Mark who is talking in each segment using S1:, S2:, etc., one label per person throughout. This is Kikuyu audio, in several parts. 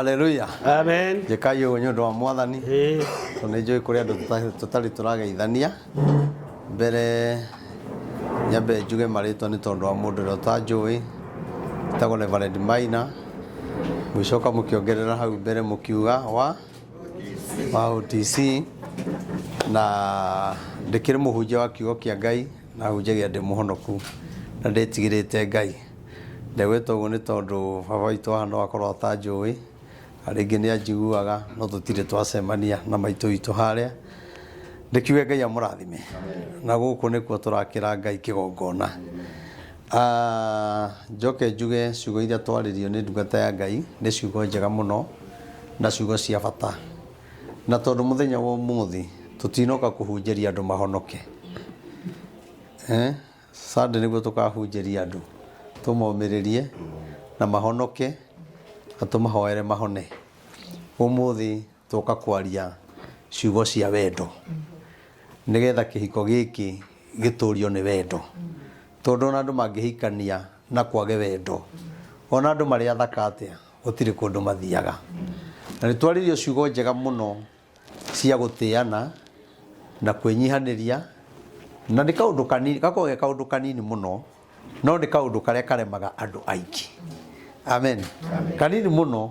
S1: haleluya amen
S2: njĩkai ũguo nĩ ũndũ wa
S1: mwathani Eh, tondũ nĩ njũĩ kũrĩ andũ tũta- tũtarĩ tũrageithania mbere nyambe njuge marĩtwa nĩ tondũ wa mũndũ ũrĩa ũtanjũĩ tagwo Reverend Maina mũgĩcoka mũkĩongerera hau mbere mũkiuga wa wa OTC na ndĩkĩrĩ mũhunjia wa kiugo kĩa Ngai na hunjagia ndĩ mũhonoku na ndĩtigĩrĩte Ngai Ndegwĩte ũguo nĩ tondũ baba witũ haha no akorwo atanjũĩ, na rĩngĩ nĩ anjiguaga no tũtirĩ twacemania na maitũ witũ harĩa. Ndĩkiuge Ngai amũrathime, na gũkũ nĩkuo tũrakĩra Ngai kĩgongona. Njoke njuge ciugo iria twarĩrio nĩ ndungata ya Ngai nĩ ciugo njega mũno na ciugo cia bata. Na tondũ mũthenya wa ũmũthĩ tũtinoka kũhunjĩria andũ mahonoke. Sunday nĩguo tũkahunjĩria andũ tũmomĩrĩrie na mahonoke na tũmahoere mahone ũmũthĩ tũka kwaria ciugo cia wendo nĩgetha kĩhiko gĩkĩ gĩtũrio nĩ wendo tondũ ona andũ mangĩhikania na kwage wendo ona andũ marĩ athaka atĩa gũtirĩ kũndũ mathiaga na nĩ twarĩrio ciugo njega mũno cia gũtĩana na kwĩnyihanĩria, na nĩ kaũndũ kanini, gakoragwo ge kaũndũ kanini mũno, no nĩ kaũndũ karĩa karemaga andũ aingĩ. Amen. Kanini mũno,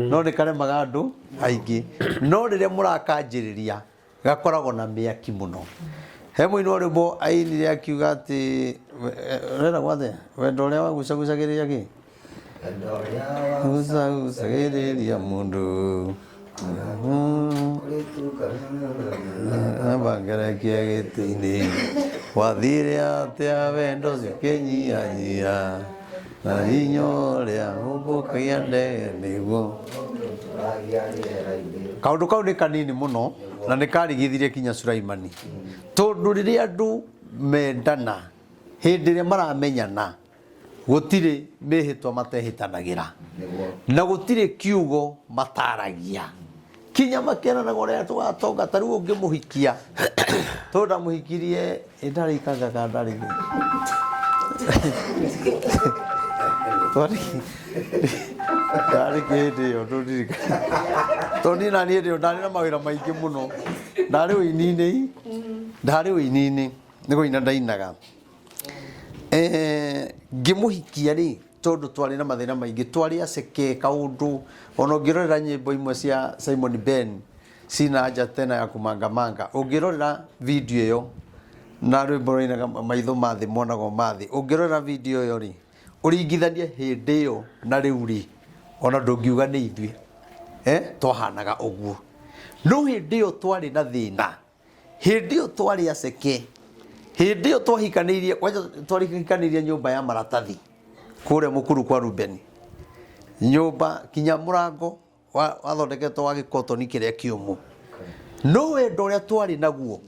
S1: no nĩ karemaga andũ aingĩ. No rĩrĩa mũrakanjĩrĩria, gakoragwo na mĩaki mũno. He mũini wa rwĩmbo ainire akiuga atĩ, we- eh, ũrenda gwathĩa, wendo ũrĩa wagucagucagĩrĩria kĩ? Usa usa gĩrĩria mũndũ bangerekia gĩtĩ-inĩ wathire atĩa wendo ũcio kĩnyihanyia na hinya ũrĩa ũmbũkagia ndege nĩguo kaundu kau ni kanini muno na ni karigithirie kinya Sulaimani tondu riria andu mendana hindi iria maramenyana Gũtirĩ mĩhĩtwa matehĩtanagĩra, na gũtirĩ kiugo mataragia. Kinya makĩranaga ũrĩa tũgatonga, ta rĩu ũngĩmũhikia, tondũ ndamũhikirie ĩ ndarĩ ikanga kana ndarĩ gĩ. Twarĩ ndarĩ kĩ hĩndĩ ĩyo ndũndirikana. Tondũ niĩ na niĩ hĩndĩ ĩyo ndarĩ na mawĩra maingĩ mũno, ndarĩ ũini-inĩ, ndarĩ ũini-inĩ nĩ kũina ndainaga. Eh, ngĩmũhikia rĩ tondũ twarĩ na mathĩna maingĩ twarĩ aceke kaũndũ ona ũngĩrorera nyĩmbo imwe cia simon ben cina nja tena ya kũmangamanga ũngĩrorera video ĩyo na rwĩmbo rũinaga maitho mathĩ monago mathĩ ũngĩrorera video ĩyo rĩ ũringithanie hĩndĩ ĩyo na rĩu rĩ ona ndũngiuga nĩ ithuĩ eh, twahanaga ũguo no hĩndĩ ĩyo twarĩ na thĩna Hĩndĩ ĩyo twarĩ aceke. Hĩndĩ ĩyo twahikanĩirie, kwanja twahikanĩirie nyũmba ya maratathi kũrĩa mũkuru kwa Rubeni. Nyũmba kinya mũrango wa- wathondeketwo wa gĩkotoni kĩrĩa kĩũmũ. No wendo ũrĩa twarĩ naguo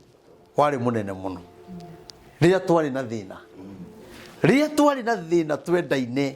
S1: warĩ mũnene mũno rĩrĩa twarĩ na thĩna. Rĩrĩa twarĩ na thĩna twendaine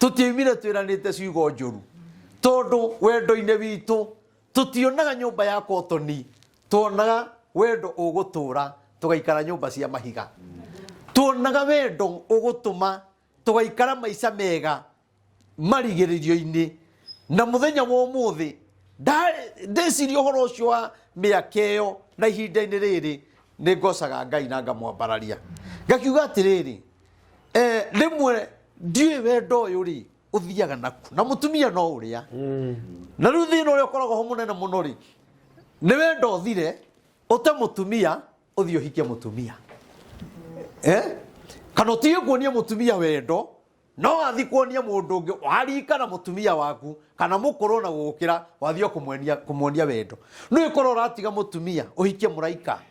S1: tũtiaimire twĩranĩte ciugo njũru tondũ wendo-inĩ witũ tũtionaga nyũmba ya kotoni tuonaga wendo ũgũtũra tũgaikara nyũmba cia mahiga tuonaga wendo ũgũtũma tũgaikara maica mega marigĩrĩrio-inĩ na mũthenya wa ũmũthĩ nda- ndeciria ũhoro ũcio wa mĩaka ĩyo na ihinda-inĩ rĩrĩ nĩ ngocaga ngai na ngamwambararia ngakiuga atĩrĩrĩ eh, rĩmwe ndiũĩ wendo ũyũ rĩ ũthiaga naku na mũtumia no ũrĩa na rĩu thĩna ũrĩa ũkoragwo ho mũnene mũno rĩ nĩ wendo ũthire ũte mũtumia ũthiĩ ũhikie mũtumia eh? kana ũtige kuonia mũtumia wendo no wathiĩ kuonia mũndũ ũngĩ warika na mũtumia waku kana mũkũrũ na gũgũkĩra wathiĩ kũmuonia kũmuonia wendo nĩ ũkorwo ũratiga mũtumia ũhikie mũraika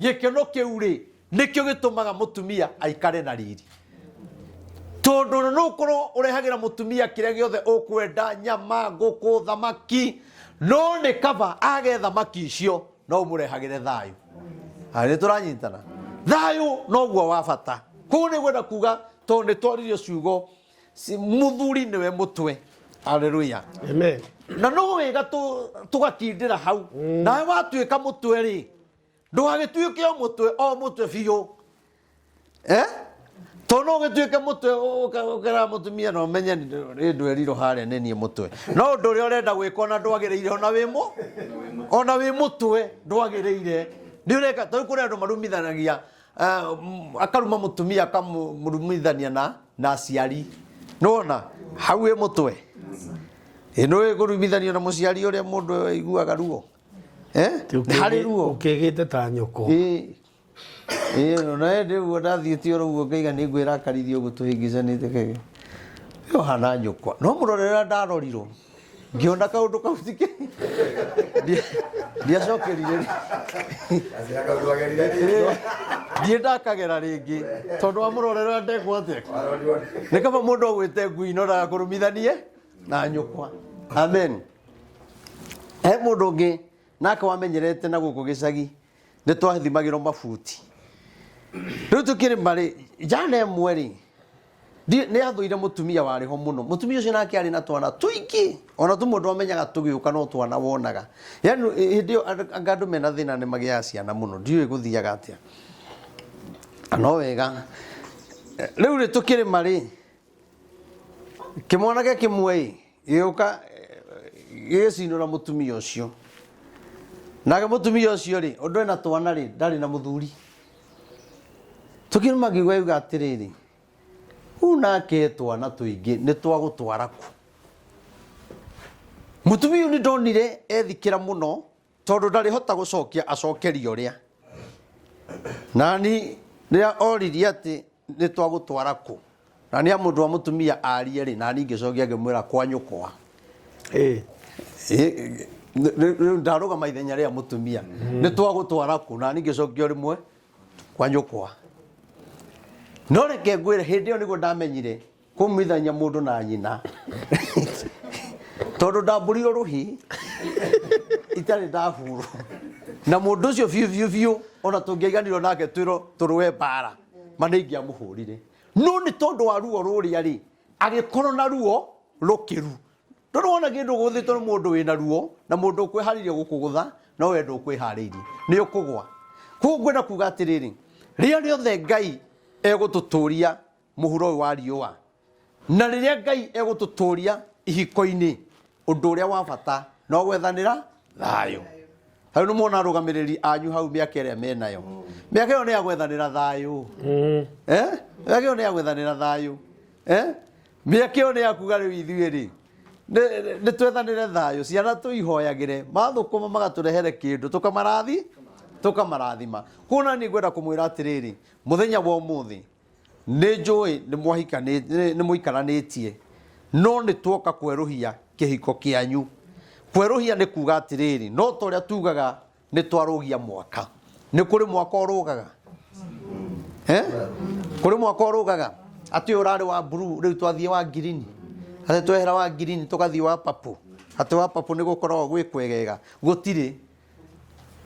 S1: Gĩkeno kĩu-rĩ, nĩkĩo gĩtũmaga mũtumia aikare na riri. Tondũ no ũkorwo ũrehagĩra mũtumia kĩrĩa gĩothe ũkwenda, nyama, ngũkũ, thamaki, no nĩ kaba age thamaki icio, no ũmũrehagĩre thayũ. Aya, nĩ tũranyitana? Thayũ noguo wa bata. Kũguo nĩ ngwenda kuga, tondũ nĩ twaririo ciugo, mũthuri nĩwe mũtwe. Haleluya! Amen.
S2: Na no wega
S1: tũ- tũgakindĩra hau. Nawe watuĩka mũtwe-rĩ, ndũgagĩtuĩke o mũtwe o mũtwe biũ eh? to no gĩtuĩke mũtwe ũkera mũtumia na ũmenye rĩ ndwerirwo harĩa nĩ niĩ mũtwe no ũndũ ũrĩa ũrenda gwĩka ona ndwagĩrĩire ona wĩ mũ ona wĩ mũtwe ndwagĩrĩire nĩ ũreka tau kũrĩ andũ marumithanagia eh, m- akaruma mũtumia akamũrumithania na na aciari nĩwona hau wĩ mũtwe ĩ nĩ ũĩ kũrumithanio na mũciari ũrĩa mũndũ aiguaga ruo eh? nĩ harĩ ruo ũkĩgĩte ta nyoko
S2: Ĩĩ.
S1: Ĩĩ, no nawe ndĩ ũguo ndathiĩte oro ũguo ngaiga nĩ ngwĩra akarithia ũguo tũhĩngĩcanĩte kege ĩyo hana nyũkwa no mũrorera ndarorirwo ngĩona kaũndũ kau ti ke Ndi- ndiacokerire rĩ- Ĩĩ, ndiĩ ndakagera rĩngĩ tondũ wa mũrorera ndekwo atĩa nĩ kaba mũndũ agwĩte ngui no ndagakũrumithanie na nyũkwa amen he mũndũ ũngĩ nake wamenyerete na gũkũ gĩcagi nĩ twathimagĩrwo mabuti rĩu tũkĩrĩma rĩ njana ĩmwe rĩ ndi- nĩ athũire mũtumia warĩ ho mũno mũtumia ũcio nake arĩ na twana tũingĩ ona tũmwe twamenyaga tũgĩũka no twana wonaga yani ĩ- hĩndĩ ĩyo andũ- anga andũ mena thĩna nĩ magĩaga ciana mũno ndiũĩ gũthiaga atĩa no wega rĩu rĩ tũkĩrĩma rĩ Kĩmwanake kĩmwe-ĩ, gĩgĩũka gĩgĩcinũra mũtumia ũcio. Nake mũtumia ũcio-rĩ, ũndũ ena twana-rĩ, ndarĩ na mũthuri. Tũkĩruma ngĩigua yuga atĩrĩrĩ, rĩu nake twana tũingĩ nĩ twa gũtwara kũ? Mũtumia ũyũ nĩndonire ethikĩra mũno Tondũ ndarĩhota gũcokia acokerio rĩa. Nani rĩrĩa oririe atĩ nĩ twagũtwara kũ na nĩ mũndũ wa mũtumia arie rĩ nani ngĩcokia ngĩmwĩra kwa nyũkwa eh. eh, rĩu ndarũgama ithenya rĩa mũtumia mm. nĩ twagũtwara kũ nani ngĩcokio rĩmwe kwa nyũkwa no reke ngwĩre hĩndĩ ĩyo nĩguo ndamenyire kũmithanya mũndũ na nyina tondũ ndambũrirwo rũhi itarĩ ndahurwo na mũndũ ũcio biũ biũ biũ ona tũngĩaiganirwo nake twĩrwo tũrũe mbara ma nĩ ingĩamũhũrire no nĩ tondũ wa ruo rũrĩa rĩ agĩkorwo na ruo rũkĩru tondũ wona kĩndũ gũthĩtwo nĩ mũndũ wĩna ruo na mũndũ ũkwĩharĩirie gũkũgũtha no wendo ũkwĩharĩirie nĩ ũkũgwa koguo ngwenda kuga atĩrĩrĩ rĩrĩa rĩothe ngai egũtũtũria mũhuro ũyũ wa riũa. Na rĩrĩa Ngai egũtũtũũria ihiko-inĩ, ũndũ ũrĩa wa bata no gwethanĩra thayũ. Ta rĩu nĩmuona arũgamĩrĩri anyu hau mĩaka ĩrĩa menayo. Mĩaka ĩyo nĩ ya gwethanĩra thayũ. Eh, mĩaka ĩyo nĩ ya gwethanĩra thayũ. Eh, mĩaka ĩyo nĩ ya kuga rĩu ithuĩ-rĩ, nĩ- nĩ twethanĩre thayũ. Ciana tũihoyagĩre, mathũkũma magatũrehere kĩndũ, tũkamarathi, tũkamarathima. Kuona nĩ ngwenda kũmwĩra atĩrĩrĩ, mũthenya wa ũmũthĩ, Nĩ njũĩ nĩ mwahikanĩtie, nĩ mũikaranĩtie, no nĩ tuoka kwerũhia kĩhiko kĩanyu. Kwerũhia nĩ kuuga atĩrĩrĩ, no ta ũrĩa tuugaga nĩ twarũgia mwaka. Nĩ kũrĩ mwaka ũrũgaga? Eh? Kũrĩ mwaka ũrũgaga? Atĩ ũyũ ũrarĩ wa blue, rĩu twathiĩ wa ngirini. Atĩ twehera wa ngirini tũgathiĩ wa purple. Atĩ wa purple nĩ gũkoragwo gwĩ kwegega. Gũtirĩ.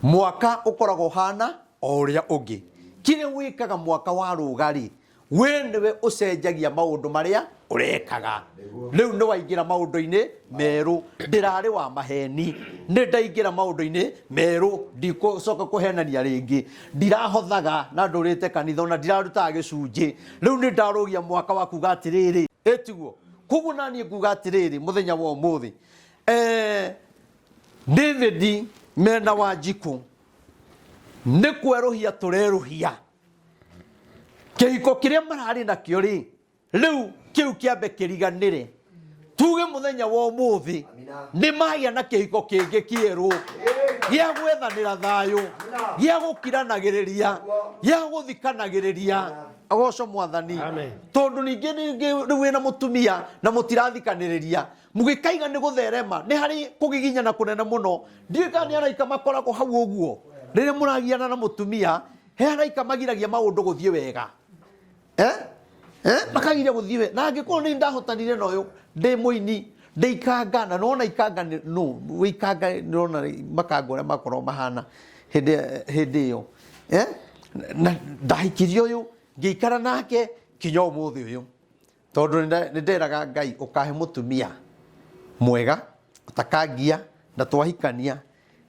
S1: Mwaka ũkoragwo ũhaana o ũrĩa ũngĩ. Kĩrĩa wĩkaga mwaka warũga-rĩ, we nĩwe ũcenjagia maũndũ marĩa ũrekaga. Rĩu nĩwaingĩra maũndũ-inĩ merũ. Ndĩrarĩ wa maheni, nĩndaingĩra maũndũ-inĩ merũ. Ndikũcoka kũhenania rĩngĩ. Ndirahothaga na ndũrĩte kanitha, ona ndirarutaga gĩcunjĩ. Rĩu nĩndarũgia mwaka wa kuuga atĩrĩrĩ, ĩtiguo? Kuoguo naniĩ nguuga atĩrĩrĩ mũthenya wa ũmũthĩ, eeh. David Mena Wanjikũ, nĩ kwerũhia tũrerũhia kĩhiko kĩrĩa mararĩ nakĩo rĩ rĩu kĩu kĩambe kĩriganĩre tuge mũthenya wa ũmũthĩ nĩ magĩa na kĩhiko kĩngĩ kĩerũ gĩa gwethanĩra thayũ gĩa gũkiranagĩrĩria gĩa gũthikanagĩrĩria agoco mwathani Amen. tondũ ningĩ ningĩ rĩu wĩna mũtumia na mũtirathikanĩrĩria mũgĩkaiga nĩ gũtherema nĩ harĩ kũgiginyana kũnene mũno ndiũĩ kana nĩ araika makoragwo hau ũguo rĩrĩa mũragiana na mũtumia he araika magiragia maũndũ gũthiĩ wega eh? Eh? makagiria gũthiĩ wega na angĩkorwo nĩ ndahotanire na ũyũ ndĩ mũini ndĩ ikanga na nona ikanga nĩ- nũ wĩ ikanga nona makanga ũrĩa makorwo mahana hĩndĩ hĩndĩ ĩyo eh? na ndahikirie ũyũ ngĩikara nake kinya ũmũthĩ ũyũ Tondũ nĩ nderaga Ngai ũkahe mũtumia mwega ũtakangia na twahikania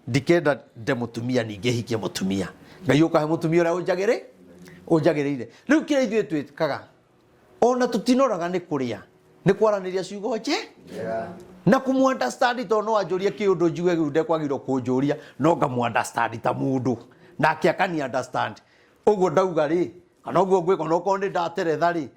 S1: ndikenda nde mũtumia ningĩ hikie mũtumia. Ngai ũkahe mũtumia ũrĩa ũnjagĩrĩ ũnjagĩrĩire. Rĩu kĩrĩa ithuĩ twĩkaga ona tũtinoraga nĩ kũrĩa nĩ kwaranĩria ciugo nje na kũmũ understand tondũ no anjũrie kĩũndũ njuge rĩu ndekwagĩrĩirwo kũnjũria no ngamũ understand ta mũndũ nake akani understand. Ũguo ndauga rĩ kana ũguo ngwĩka onokorwo nĩ ndateretha rĩ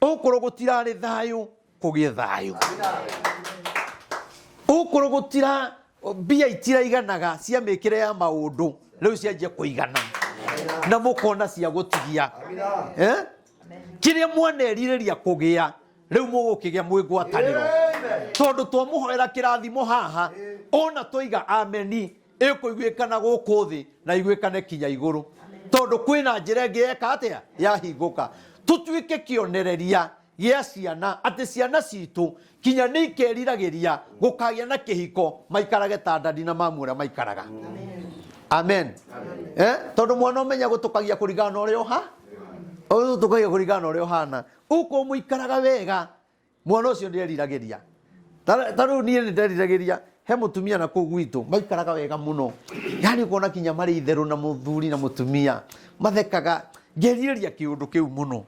S1: Ũkũrũ gũtirarĩ thayũ kũgĩe thayũ. Ũkũrũ gũtira mbia itiraiganaga cia mĩkĩre ya maũndũ rĩu cianjia kũigana na mũkona cia gũtigia eh? kĩrĩa mwanerirĩria kũgĩa rĩu mũgũkĩgĩa mwĩ ngwatanĩro tondũ twamũhoera kĩrathimo haha ona twoiga ameni ĩkũiguĩkana gũkũ thĩ na iguĩkane kinya igũrũ tondũ kwĩna njĩra ĩngĩ yeka atĩa yahingũka tũtuĩke kĩonereria gĩa ciana atĩ ciana citũ kinya nĩ ikeriragĩria gũkagĩa na kĩhiko maikarage ta ndandi na mamu ũrĩa maikaraga amen eh? tondũ mwana ũmenya gũtũkagia kũringana na ũrĩa ũha ũtũkagia kũringana na ũrĩa ũhana ũkũ mũikaraga wega mwana ũcio nderiragĩria Ta- ta rĩu niĩ nĩnderiragĩria he mũtumia na kũu gwitũ maikaraga wega mũno yani kuona kinya marĩ itherũ na mũthuri na mũtumia mathekaga ngerirĩria kĩũndũ kĩu mũno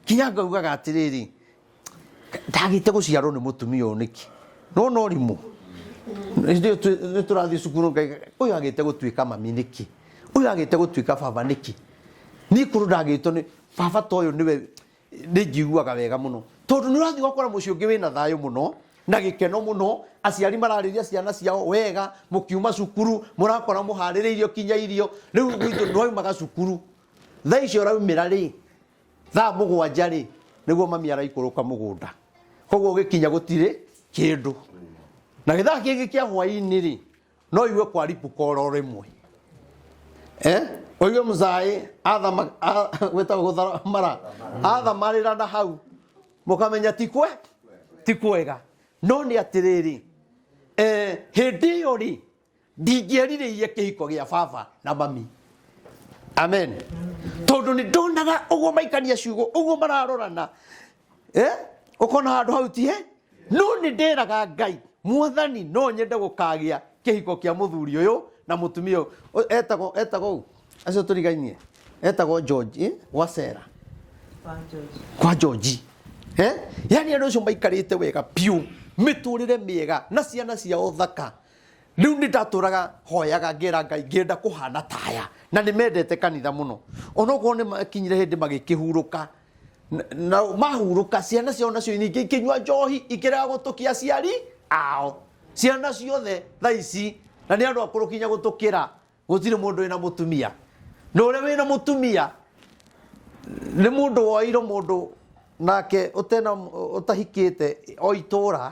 S1: kinya ngaugaga atĩrĩrĩ ndagĩte gũciarwo nĩ mũtumia ũyũ nĩkĩ no no rimũ nĩ tũrathiĩ cukuru ngaiga ũyũ agĩte gũtuĩka mami nĩkĩ ũyũ agĩte gũtuĩka baba nĩkĩ nikorwo ndagĩtwo nĩ baba ta ũyũ nĩwe Nĩ njiguaga wega mũno tondũ nĩ ũrathiĩ ũgakora mũciĩ ũngĩ wĩna thayũ mũno na gĩkeno mũno, aciari mararĩria ciana ciao wega, mũkiuma cukuru mũrakora mũharĩrĩirio kinya irio. Rĩu gwitũ nĩ waumaga cukuru, thaa icio ũraumĩra rĩ, thaa mũgwanja rĩ, nĩguo mami araikũrũka mũgũnda. Kwoguo ũgĩkinya gũtirĩ kĩndũ. Na gĩ thaa kĩngĩ kĩa hwainĩ rĩ, no igue kwa ripuka oro rĩmwe eh? oige mũcaĩ gwĩtagwo gũthamara athamarĩra na hau mũkamenya tikwe ti kwega no nĩ atĩrĩrĩ eh, hĩndĩ ĩyo rĩ ndingĩerirĩirie kĩhiko gĩa baba na mami amen tondå nä ndonaga å guo maikania ciugo å guo mararorana Eh? ũkona handũ hau ti he no nĩ ndĩraga ngai mwathani no nyende gũkagĩa kĩhiko kĩa mũthuri ũyũ na mũtumia ũyũ Ũ- etagwo etagwo ũũ acio tũrigainie etagwo george eh? gwacera kwa George eh? yani andå acio maikarĩte wega biũ mĩtũrĩre mĩega na ciana ciao thaka rĩu nĩ ndatũraga hoyaga ngera ngai ngĩenda kũhana taya na nĩ mendete kanitha mũno onokorwo nĩ makinyire hĩndĩ magĩkĩhurũka Na- na mahurũka ciana ciao nacio nyingĩ ikĩnyua njohi ikĩrega gũtũkia aciari ao ciana ciothe tha ici na nĩ andũ akũrũ kinya gũtũkĩra gũtirĩ mũndũ wĩna mũtumia na ũrĩa wĩna mũtumia nĩ mũndũ woeirwo mũndũ nake ũtena ũtahikĩte o itũra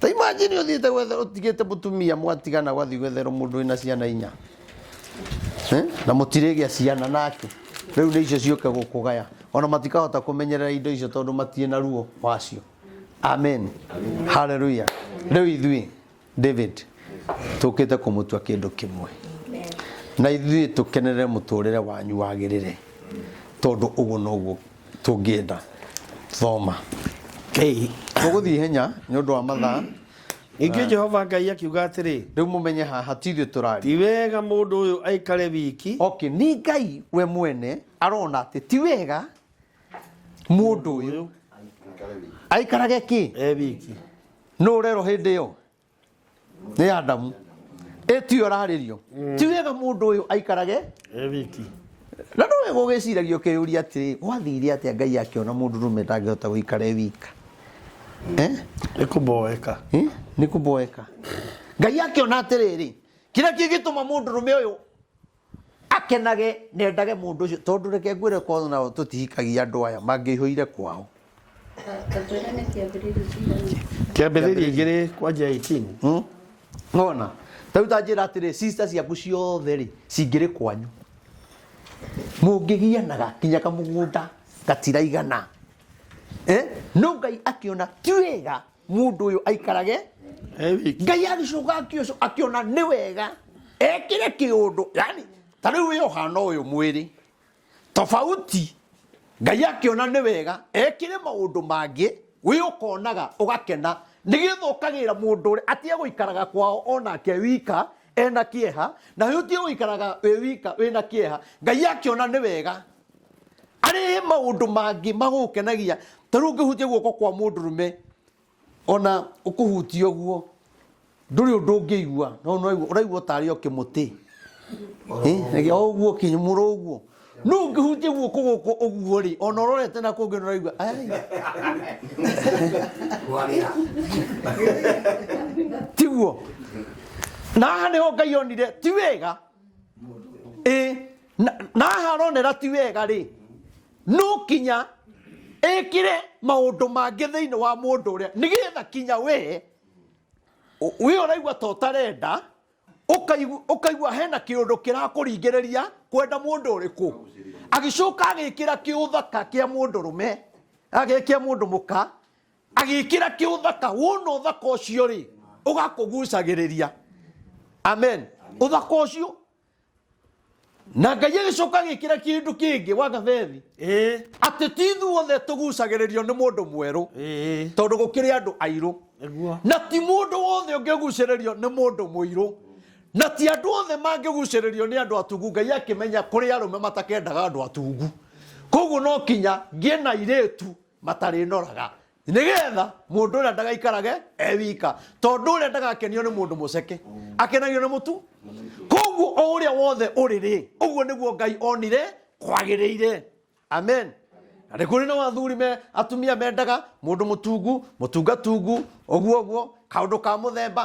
S1: ta imagine uthiite gwetha utigite mutumia mwatigana gwathi gwetherwo mundu wina ciana inya Eh? na mutirigĩa ciana nake rĩu nĩ icio ciũke gũkũgaya ona matikahota kũmenyerera indo icio tondũ matirĩ na ruo wacio amen haleluya rĩu ithuĩ david tũkĩte kũmũtua kĩndũ kĩmwe na ithuĩ tũkenerere mũtũrĩre wanyu wagĩrĩre tondũ ũguo noguo tũngĩenda thoma Ĩĩ. tũgũthiĩ ihenya nĩ ũndũ wa mathaa ningĩ jehova
S2: ngai akiuga atĩrĩ rĩu mũmenye haha hatirĩ
S1: tũrari ti wega mũndũ
S2: ũyũ aikare wiki okay ni ngai
S1: we mwene arona atĩ ti wega mũndũ ũyũ aikarage kĩ e wiki
S2: no ũrero
S1: hĩndĩ ĩyo nĩ adamu ĩtio ararĩrio ti wega mũndũ ũyũ aikarage e wiki
S2: na nĩ
S1: wega ũgĩciragia ũkĩyũria atĩrĩ gwathire atĩa ngai akĩona mũndũ rũme ndangĩhota gũikara e wika eh? nĩ
S2: kũmboeka Eh? nĩ kũmboeka
S1: ngai akĩona atĩrĩrĩ kĩrĩa kĩngĩtũma mũndũ rũme ũyũ akenage na endage mũndũ ũcio tondũ reke ngwĩre korwo nao tũtihikagia andũ aya mangĩihũire kwao Tambũra nĩ kĩambĩrĩria
S2: kĩigana. kĩambĩrĩria igĩrĩ kwanja 18 Hmm? nona
S1: tarĩu tanjĩra atĩrĩ sister ciaku ciothe rĩ cingĩrĩ kwanyu mũngĩgianaga kinya kamũgũnda gatiraigana eh? no ngai akĩona ti wega mũndũ ũyũ aikarage ngai agĩcoka akĩoco- akĩona nĩ wega ekĩre kĩũndũ yani ta rĩu wĩ ũhana ũyũ mwĩrĩ tofauti ngai akĩona nĩ wega ekĩre maũndũ mangĩ wĩ ũkonaga ũgakena nĩgetha ũkagĩra mũndũ ũrĩa atige gũikaraga kwao onake wika ena kĩeha na wĩ ũtige gũikaraga wĩ wika wĩna kĩeha ngai akĩona nĩ wega arehe maundu mangi magukenagia ta riu ngihutia guoko kwa mundu rume ona ukuhutia guo nduri undu ngiigua no no uraigua tari o kimuti eh o guo kinyumuro uguo no ngihutia guoko guko uguo ri ona urorete na kungi uraigua ai tiguo na haha niho ngai onire ti wega ĩ na na haronera ti wega rĩ no kinya ĩkĩre maũndũ mangĩ thĩinĩ wa mũndũ ũrĩa nĩgetha kinya wee ũ- wĩ ũraigua ta ũtarenda ũkaigu- ũkaigua hena kĩũndũ kĩrakũringĩrĩria kwenda mũndũ ũrĩkũ agĩcoka agĩkĩra kĩũthaka kĩa mũndũ rũme agĩ- kĩa mũndũ mũka agĩkĩra kĩũthaka wona ũthaka ũcio rĩ ũgakũgucagĩrĩria amen ũthaka ũcio na ngai agĩcoka agĩkĩra kĩndũ kĩngĩ wa gathethi ĩĩ atĩ ti ithuothe tũgucagĩrĩrio nĩ mũndũ mwerũ ĩĩ tondũ gũkĩrĩ andũ airũ nĩguo na ti mũndũ wothe ũngĩgucĩrĩrio nĩ mũndũ mũirũ na ti andũ othe mangĩgucĩrĩrio nĩ andũ atungu ngai akĩmenya kũrĩ arũme matakendaga andũ atungu koguo no kinya ngĩe na irĩtu matarĩnoraga nĩgetha mũndũ ũrĩa ndagaikarage e wika tondũ ũrĩa ndagakenio nĩ mũndũ mũceke akenagio nĩ mũtu koguo o ũrĩa wothe ũrĩ rĩ ũguo nĩguo ngai onire kwagĩrĩire amen na nĩ kũrĩ na wathuri me atumia mendaga mũndũ mũtungu mũtungatungu ũguo ũguo kaũndũ ka mũthemba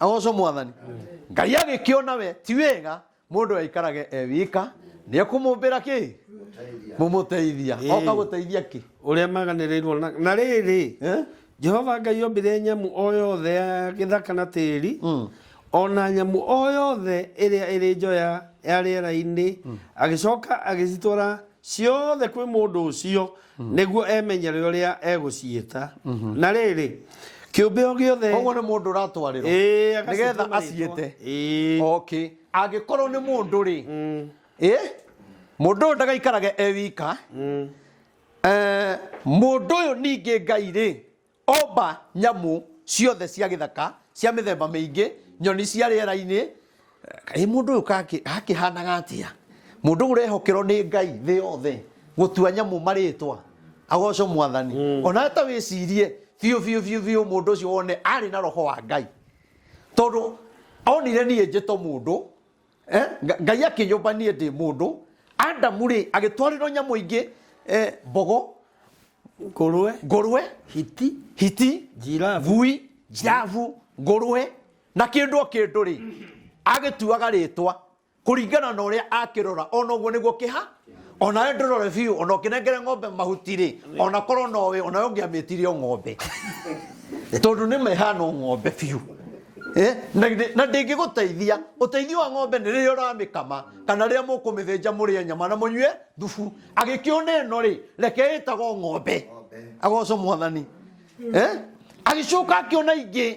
S1: agoco mwathani ngai agĩkĩona we ti wega mũndũ aikarage e wika nĩ ekũmũmbĩra kĩ mũmũteithia Ĩĩ. oka gũteithia kĩ ũrĩa maganĩrĩirwo
S2: na, na rĩrĩ Eh? jehova ngai ombire nyamũ o yothe ya gĩthaka na tĩri Mm. o na nyamũ o yothe ĩrĩa ĩrĩ njoya ya rĩera-inĩ agĩcoka agĩcitwara ciothe kwĩ mũndũ ũcio nĩguo emenyere ũrĩa egũciĩta na rĩrĩ kĩũmbe o gĩothe koguo nĩ mũndũ ũratwarĩrwo
S1: Ĩĩ, agacĩtwo nĩgetha marĩtwa. aciĩte Ĩĩ. okay angĩkorwo nĩ mũndũ rĩ ĩ mũndũ ũyũ ndagaikarage e wika Eh, mũndũ ũyũ ningĩ ngai rĩ Oomba nyamũ ciothe cia gĩthaka cia mĩthemba mĩingĩ, nyoni cia rĩera-inĩ. Kaĩ mũndũ ũyũ gakĩhanaga atĩa? Mũndũ ũrehokerwo nĩ Ngai thĩ yothe gũtua nyamũ marĩtwa. Agocwo mwathani. Onawe ta wĩcirie biũ biũ biũ biũ mũndũ ũcio wone arĩ na roho wa Ngai. Tondũ onire niĩ njĩto mũndũ eh, Nga- ngai akĩnyũmba niĩ ndĩ mũndũ adamu rĩ agĩtwarĩrwo nyamũ ingĩ eh, mbogo ngũrwe ngũrwe hiti hiti Giraffe. ngui njavu ngũrwe na kĩndũ o kĩndũ rĩ agĩtuaga rĩtwa kũringana na ũrĩa akĩrora ona ũguo nĩguo kĩha ona we ndũrore biũ ona ũkĩnengere ng'ombe mahuti rĩ ona korwo nowe ona we ũngĩamĩtire o ng'ombe tondũ nĩ mehana o ng'ombe biũ Eh, na githĩ- na ndĩngĩgũteithia ũteithio wa ng'ombe nĩ rĩrĩa ũramĩkama kana rĩrĩa mũkũmĩthĩnja mũrĩe nyama na mũnyue thubu agĩkĩona ĩno rĩ reke ĩtagwo ng'ombe agoco mwathani Eh, agĩcoka akĩona ingĩ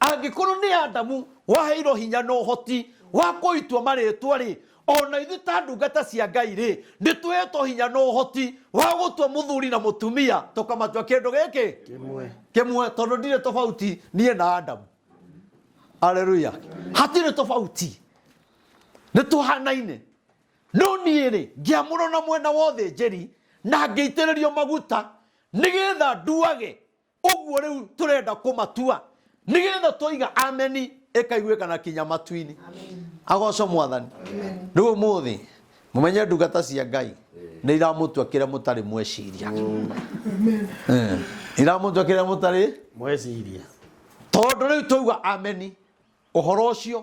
S1: Angĩkorũo nĩ Adamu waheirũo hinya na ũhoti wa kũitua marĩĩtwa-rĩ, o na ithuĩ ta ndungata cia Ngai-rĩ, nĩ tũheetwo hinya na ũhoti wa gũtua mũthuri na mũtumia, tũkamatua kĩndũ gĩkĩ kĩmwe, tondũ ndirĩ tofauti niĩ na Adamu. Aleluia! Hatirĩ tofauti. Nĩ tũhaanaine. No niĩ-rĩ, ngĩamũrũo na mwena wa ũthĩnjĩri na ngĩitĩrĩrio maguta nĩgetha nduage ũguo rĩu tũrenda kũmatua nĩgetha twaiga ameni ĩkaiguĩka na kinya matu-inĩ agoco mwathani rĩu ũmũthĩ mũmenye ndungata cia ngai nĩ iramũtua kĩrĩa mũtarĩ mweciria Eh, iramũtua kĩrĩa mũtarĩ mweciria
S2: tondå
S1: rä u twauga ameni å horo å cio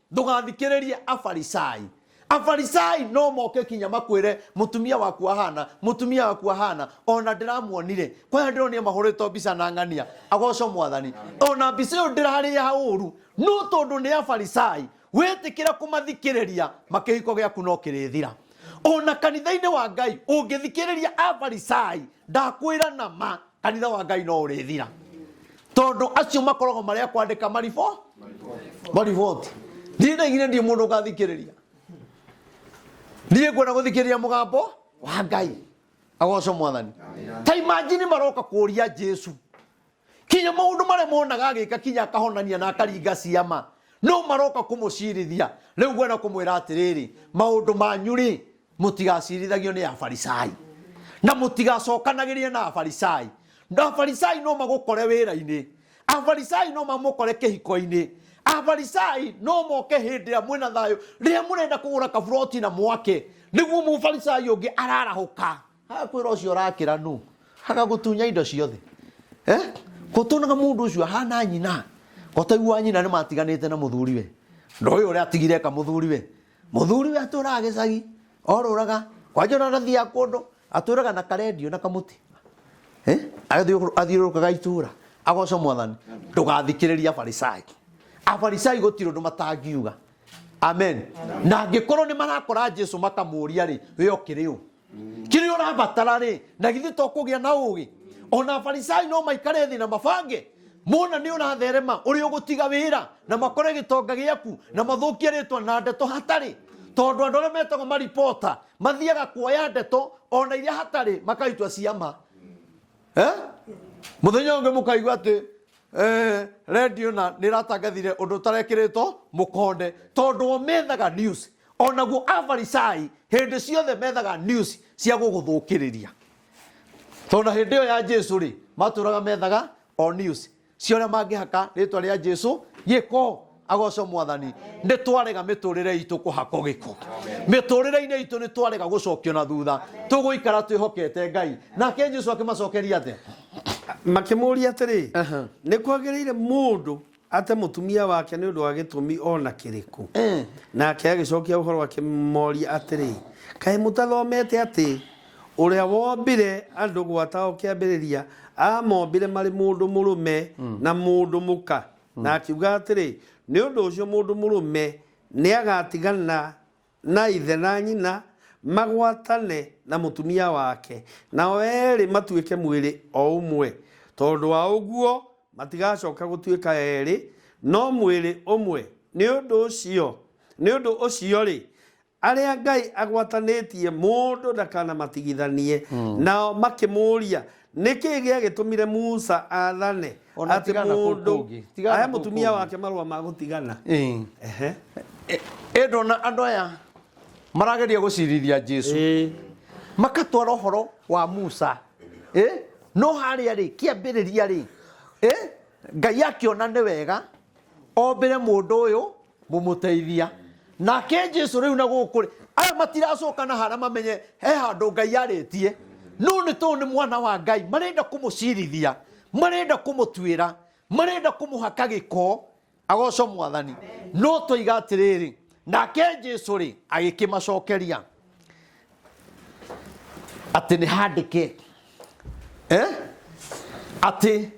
S1: Ndũgathikĩrĩrie Afarisai. Afarisai no moke kinya makwĩre mũtumia waku ahana, mũtumia waku ahana, ona ndĩramuonire, kwaya ndĩronire mahũrĩtwo mbica na ng'ania, agocwo mwathani. Ona mbica ĩyo ndĩrarĩ ya ũru, no tondũ nĩ Afarisai, wetĩkĩra kũmathikĩrĩria, makĩhiko gĩaku no kĩrĩthira. ona kanitha-inĩ wa ngai ũngĩthikĩrĩria afarisai ndakwĩra na ma kanitha wa ngai no ũrĩthira tondũ acio makoragwo marĩa kwandĩka mariboti mariboti niĩ ndaigire ndiĩ mũndũ ngathikĩrĩria niĩ ngwenda gũthikĩrĩria mũgambo wa ngai agocwo mwathani ta imajini maroka kũria jesu kinya maundu maria monaga agika kinya akahonania na akaringa ciama no maroka kumucirithia riu ngwenda kumwira atiriri maundu manyu ri mutigaciirithagio ni afarisai na mutigacokanagiria na afarisai na afarisai no magukore wira-ini afarisai no mamukore kihiko-ini afarisai no moke hindi ya mwina thayo riria murenda kugura kaburoti na mwake niguo mufarisai ungi ararahuka Hakwĩra ũcio ũrakĩra nũ hagagutunya indo ciothe eh? gũtũnaga mũndũ ũcio ahana nyina gotaigu wa nyina nĩ matiganĩte na mũthuriwe ndoĩ ũrĩa atigire eka mũthuriwe mũthuriwe atũraga gĩcagi orũraga kwanja ona ndathiaga kũndũ atũraga na karendio na kamũtĩ Eh? Athiũrũ- athiũrũrũkaga itũra agoca mwathani ndũgathikĩrĩria afarisai afarisai gũtirĩ ũndũ matangiuga amen na angĩkorwo nĩ marakora jesu makamũria rĩ we ũkĩrĩ ũ kiri urabatara ri na githĩ to kũgĩa na ũgĩ ona farisai no maikare thĩ na mabange mona nĩ ũratherema ũrĩ ũgũtiga wĩra na makore gĩtonga gĩaku na mathũkie rĩtwa na ndeto hatarĩ tondũ andũ arĩa metagwo maripota mathiaga kuoya ndeto ona iria hatarĩ makaitwa ciama eh? muthenya ungi mukaigua ati eh, radio na niratangathire undu utarekirito mukonde tondu omethaga news O naguo Afarisai hĩndĩ ciothe methaga news cia gũgũthũkĩrĩria. Tondũ na hĩndĩ ĩyo ya Jesu rĩ, matũraga methaga o news cia ũrĩa mangĩhaka rĩtwa rĩa Jesu gĩko. Agocwo mwathani, nĩ twarega mĩtũrĩre itũ kũhakwo gĩko. Mĩtũrĩre-inĩ itũ nĩ twarega gũcokio na thutha, tũgũikara twĩhokete Ngai. Nake Jesu akĩmacokeria atĩa? Makĩmũũria
S2: atĩrĩ, Nĩ kwagĩrĩire mũndũ Ate mũtumia wake nĩ ũndũ wa gĩtũmi o na kĩrĩkũ? Nake agĩcokia ũhoro akĩmoria atĩrĩ, Kaĩ mũtathomete atĩ ũrĩa wombire andũ gwata o kĩambĩrĩria aamombire marĩ mũndũ mũrũme na mũndũ mũka? Na akiuga atĩrĩ, Nĩ ũndũ ũcio mũndũ mũrũme nĩagatigana Na ithe na nyina magwatane na mũtumia wake, nao eerĩ matuĩke mwĩrĩ o ũmwe. Tondũ wa ũguo, matigacoka gũtuĩka eerĩ, no mwĩrĩ ũmwe. Nĩ ũndũ ũcio, nĩ ũndũ ũcio-rĩ, arĩa Ngai agwatanĩtie mũndũ ndakanamatigithanie. Nao makĩmũũria, Nĩ kĩĩ gĩagĩtũmire Musa athane O na atĩ tigana kũu mũndũ kũngĩ, tigana ahe kũu mũtumia kũngĩ. wake marũa ma gũtigana? Ĩĩ. Ehe.
S1: Ĩ- ĩ ndona andũ aya marageria gũcirithia jesu Ĩĩ. makatwara ũhoro wa musa Ĩ? no harĩa rĩ kĩambĩrĩria rĩ Ĩ? ngai akĩona nĩ wega ombĩre mũndũ ũyũ mũmũteithia nake jesu rĩu na gũkũ rĩ aya matiracoka na hara mamenye he handũ ngai yarĩtie no nĩ tondũ nĩ mwana wa ngai marenda kũmũcirithia marenda kũmũtuĩra marenda kũmũhaka gĩko agoco mwathani no toiga atĩrĩrĩ nake jesu rĩ agĩkĩmacokeria atĩ nĩ handĩke eh? atĩ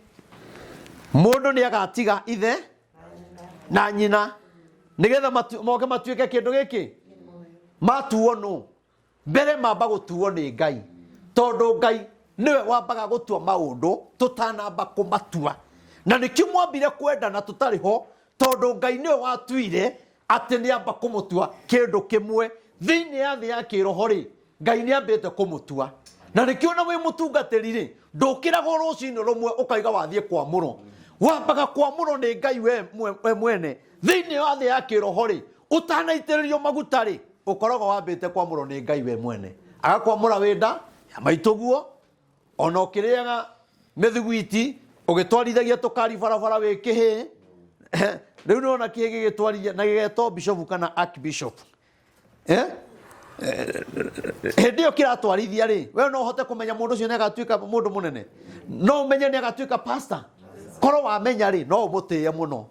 S1: mũndũ nĩ agatiga ithe na nyina nigetha matu- moke matuĩke kĩndũ gĩkĩ matuo nũ mbere mamba gũtuo nĩ ngai tondũ ngai nĩwe wambaga gũtua maũndũ tũtanamba kũmatua na nĩkĩo mwambire kwendana tũtarĩ ho tondũ ngai nĩwe watuire atĩ nĩ amba kũmũtua kĩndũ kĩmwe thĩinĩ ya thĩ ya kĩroho rĩ ngai nĩ ambĩte kũmũtua na nĩkĩo na wĩ mũtungatĩri rĩ ndũkĩragwo rũcinĩ rũmwe ũkaiga wathiĩ kwamũrwo wambaga kwamũrwo nĩ ngai we mwe- we mwene thĩinĩ ya thĩ ya kĩroho rĩ ũtanaitĩrĩrio maguta rĩ ũkoragwo wambĩte kwamũrwo nĩ ngai we mwene agakwamũra wĩ nda ya maitũguo ona ũkĩrĩaga mĩthugwiti ũgĩtwarithagia tũkari barabara wĩ kĩhĩ rĩu nĩona kĩhĩ gĩgĩtwarithia na gĩgetwo bishopu kana archbishop Eh? Eh, hĩndĩ ĩyo kĩratwarithia rĩ we no ũhote kũmenya mũndũ ũcio nĩagatuĩka mũndũ mũnene no ũmenye nĩagatuĩka pastor korwo wamenya rĩ no ũmũtĩe mũno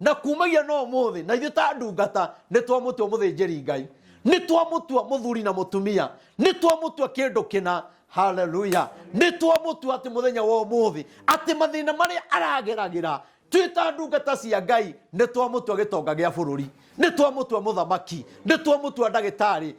S1: na kumagia no muthi na ithuĩ ta ndungata nĩ twamũtua mũthĩnjĩri ngai nĩ twamũtua mũthuri na mũtumia nĩ twamũtua kĩndũ kĩna
S3: haleluya nĩ twamũtua atĩ mũthenya wa ũmũthĩ atĩ mathĩna marĩa arageragĩra twĩ ta ndungata cia ngai nĩ twamũtua gĩtonga gĩa bũrũri nĩ twamũtua mũthamaki nĩ twamũtua ndagĩtarĩ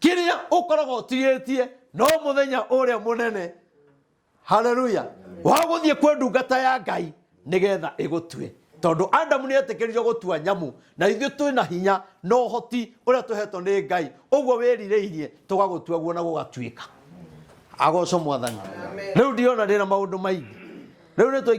S3: kĩrĩa ũkoragwo ũtigĩtie no mũthenya ũrĩa mũnene haleluya wa gũthiĩ kwĩ ndungata ya ngai nĩgetha ĩgũtue tondũ adamu nĩ etĩkĩririo gũtua nyamũ na ithuĩ twĩ na hinya na ũhoti ũrĩa tũhetwo nĩ ngai ũguo wĩrirĩirie tũgagũtua guo na gũgatuĩka agoco mwathani rĩu ndiona ndĩna maũndũ maingĩ rĩu nĩ tũingĩ